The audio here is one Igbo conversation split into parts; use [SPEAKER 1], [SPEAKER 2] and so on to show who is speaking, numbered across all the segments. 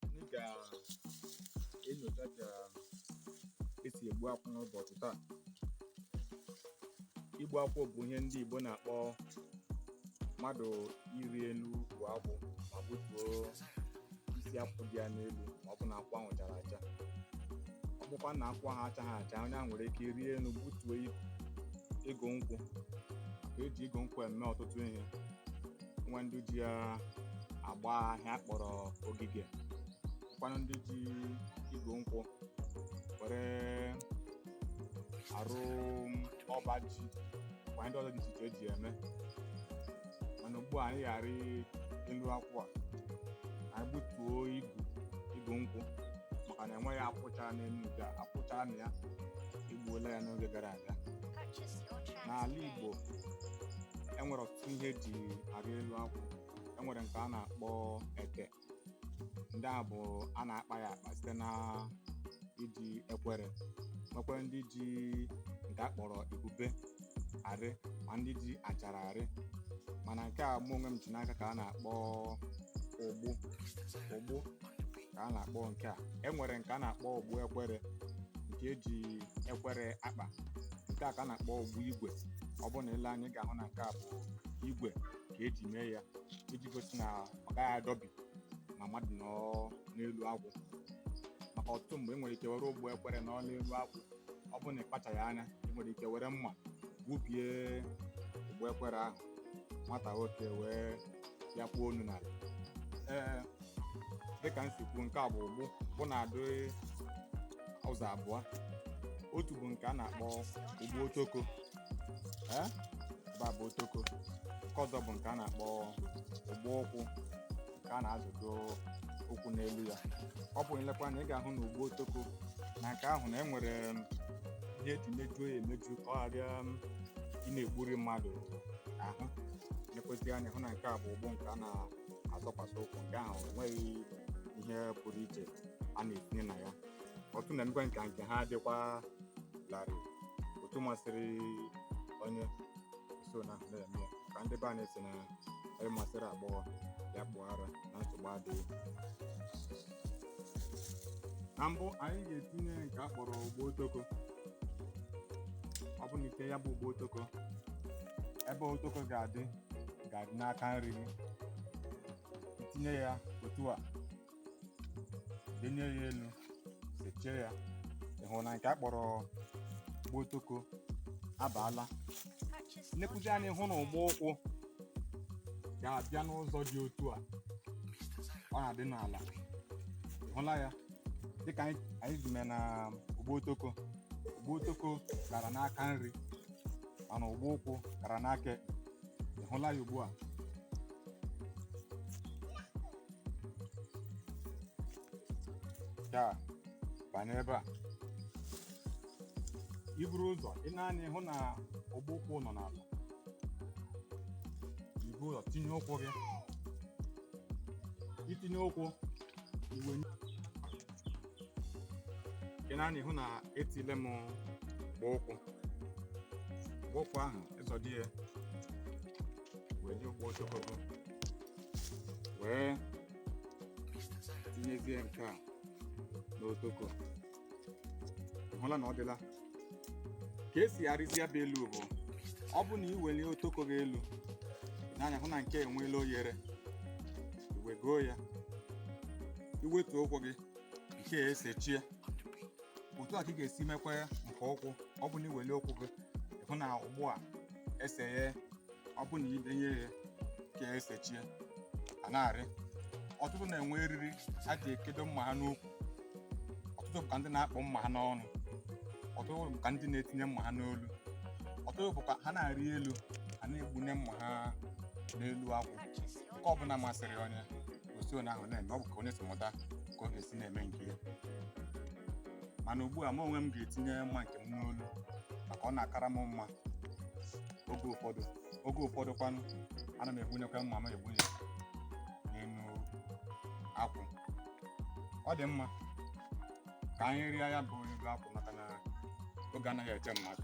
[SPEAKER 1] anyị ga-enyocha ka esi egbu akwụ n'ụbọchị taa igbu akwụ bụ ihe ndị Igbo na-akpọ mmadụ ịrị elu bụ akwụ ma butuo isi akwụ dị ya n'elu ma ọ bụ na akwụ ahụ chara acha ọ bụkwa na akwụ ahụ achaghị acha onye ahụ nwere ike ịrị elu gbutuo igu nkwụ ka eji igu nkwụ eme ọtụtụ ihe nwe ndị ji ya agba ihe a kpọrọ ogige nwekwanụ ndị ji igu nkwụ were arụ ọba ji kwa ndị ọzọ dị iche iche eji eme mana ugbu a anyị ga-arị elu akwụ a anyị gbutuo igu igu nkwụ maka na enweghị akwụ chara n'elu nke a akwụ chara na ya egbuola ya n'oge gara aga n'ala Igbo enwere ọtụtụ ọtụtụ ihe eji arị elu akwụ e nwere nke a na-akpọ ete ndị a bụ a na-akpa ya akpa site na iji ekwere nwekwara ndị ji nke a kpọrọ ebube arị ma ndị ji achara arị mana nke a mụ onwe m ji n'aka ka a na-akpọ ụgbụ ụgbụ ka a na-akpọ nke a e nwere nke a na-akpọ ụgbụ ekwere nke eji ekwere akpa nke a ka a na-akpọ ụgbụ igwe ọ bụrụ na i lee anya ị ga-ahụ na nke a bụ igwe ka eji mee ya iji gosi na ọ gaghị adọbi ma mmadụ nọ n'elu akwụ maka ọtụtụ mgbe e nwere ike were ụgbụ ekwere nọ n'elu akwụ ọ bụrụ na ị kpachaghị anya ị nwere ike were mma gbubie ụgbụ ekwere ahụ nwata nwoke wee ya kpuo ọnụ n'ala ee dịka m si kwuo nke a bụ ụgbụ ụgbụ na-adị ụzọ abụọ otu bụ nke a na-akpọ ụgbụ otoko ebe a bụ otoko nke ọzọ bụ nke a na-akpọ ụgbụ ụkwụ nke a na-azọdo ụkwụ n'elu ya ọ bụ na i lekwa anya ị ga-ahụ na ụgbụ otoko na nke ahụ na e nwere um, ihe eji mejuo ya emeju ka ọ ghara um, ịna-egburi mmadụ ahụ lekwasị anya hụ na nke a bụ ụgbụ nke a na-azọkwasị ụkwụ nke ahụ enweghị ihe pụrụ iche a na-etinye na ya ụfọdụ na-emekwa ka nke ha dịkwa larịị otu masịrị onye so na ahụ na-eme ya ka ndị be anyị sị na onye masịrị agbọghọ ya kpụọ ara na nsogbu adịghị na mbụ anyị ga-etinye nke a kpọrọ ụgbụ otoko ọ bụ na i tinye ya bụ ụgbụ otoko ebe otoko ga-adị ga-adị n'aka nri gị tinye ya otu a denye ya elu sechie ya ị hụ na nke a kpọrọ ụgbụ otoko abaala i nekwuzie anya ị hụ na ụgbụ ụkwụ ga-abịa n'ụzọ dị otu a ọ na-adị n'ala ị hụla ya dịka anyị si mee na ụgbụ otoko ụgbụ otoko gara n'aka nri mana ụgbụ ụkwụ gara n'aka ekpe. ị hụla ya ugbu a ya banye ebe a i buru ụzọ i nee anya ị hụ na ụgbụ ụkwụ nọ n'ala i buru ụzọ tinye ụkwụ gị i tinye ụkwụ i wee nee anya ị hụ na etinyela m ụgbụ ụkwụ ụgbụ ụkwụ ahụ ị zọdo ya wee nye ụgbụ otoko wee tinyezie nke a n'otoko hụla na ọ dịla ka e si arịzi ya bụ elu bụ ọ bụ na i welie otoko gị elu nee anya hụ na nke a enweela oghere i wegoo ya i wetuo ụkwụ gị nke a esechie otu a ka ị ga-esi mekwa ya nke ụkwụ ọ bụ na i welie ụkwụ gị ị hụ na ụgbụ a esehe ọ bụ na i denye ya nke a esechie a na-arị ọtụtụ na-enwe eriri ha ji ekedo mma ha n'ukwu ọtụtụ bụ ka ndị na-akpụ mma ha n'ọnụ ọtụtụ bụ ka ndị na-etinye mma ha n'olu ọtụtụ bụ ka ha na-arị elu ha na-egbunye mma ha n'elu akwụ nke ọbụla masịrị onye o si onye ahụ na-eme ọ bụ ka onye si mụta ka ọ ga-esi na-eme nke ya mana ugbu a m onwe m ga-etinye mma nke m n'olu maka ọ na-akara m mma oge ụfọdụ oge ụfọdụ kwanụ ana m egbunyekwa mma m egbunye n'elu akwụ ọ dị mma ka anyị rịa ya gbuo igu akwụ maka na oge anaghị eche mmadụ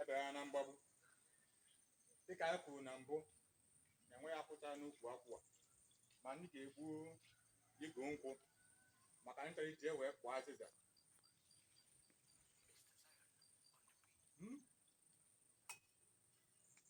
[SPEAKER 1] Ebe a na mgbagbu. Dịka anyị kwuru na mbụ na enweghị akwụ cha n'ukwu akwụ a ma anyị ga-egbu igu nkwụ maka ndị chọrọ iji wee kpụọ azịza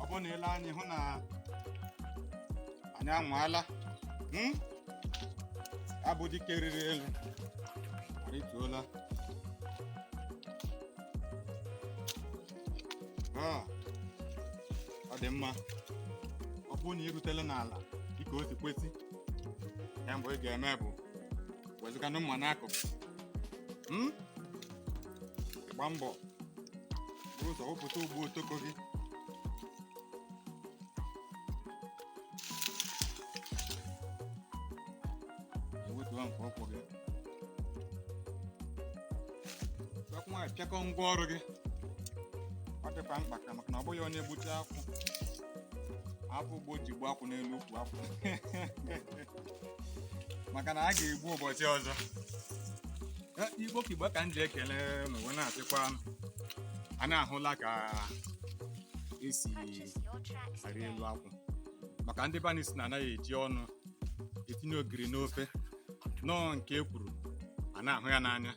[SPEAKER 1] ọ bụrụ na i lee anya ị hụ na anyị anwaala hmm? ya bụ dike rịrị elu arịtuola Ah, ọ dị mma ọ bụrụ na ị rutela n'ala dịka o si kwesị ihe mbụ ị ga-eme bụ wezuga mma n'akụkụ Hmm? gba mbọ ụzọ wepụta ugbo otoko gị ewetuwa nke ọkwụ gị nwa pịakọ ngwa ọrụ gị ọ dịkwa mkpa ka maka na ọ bụghị onye gbuchaa akwụ ahapụ ugbo ji gbuo akwụ n'elu ukwu akwụ maka na a ga-egbu ụbọchị ọzọ igbo ka igbo ka m ji ekele n'ụwa na-asịkwa a na-ahụla ka esi arị elu akwụ maka ndị be anyị sị na anaghị eji ọnụ etinye ogiri n'ofe na ọ nke e kwuru a na-ahụ ya n'anya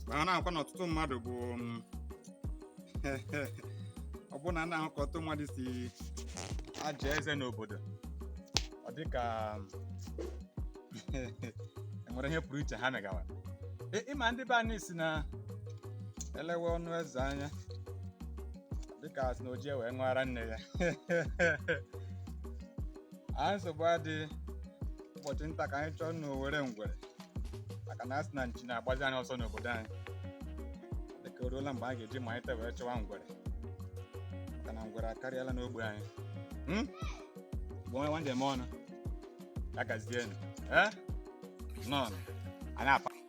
[SPEAKER 1] manakwa na ọtụtụ mmadụ bụ ọ bụrụ na a na-ahụ ka ọtụtụ mmadụ si aza eze n'obodo ọ dị ka enwere ihe pụrụ iche ha megawara Ị- ị ma ndị be anyị sị na elewe ọnụ eze anya dịka asị na o jighị ya wee ṅụọ ara nne ya a nsogbu adịghị ụbọchị nta ka anyị chụọ na owere ngwere maka na asị na nchi na-agbazi anyị ọsọ n'obodo anyị dịka o ruola mgbe a ga-eji malite wee chụwa ngwere maka na ngwere akarịala n'ogbe anyị Hmm? bụ onye nwanne m ọnụ ya gazienụ ee nọn anyị apa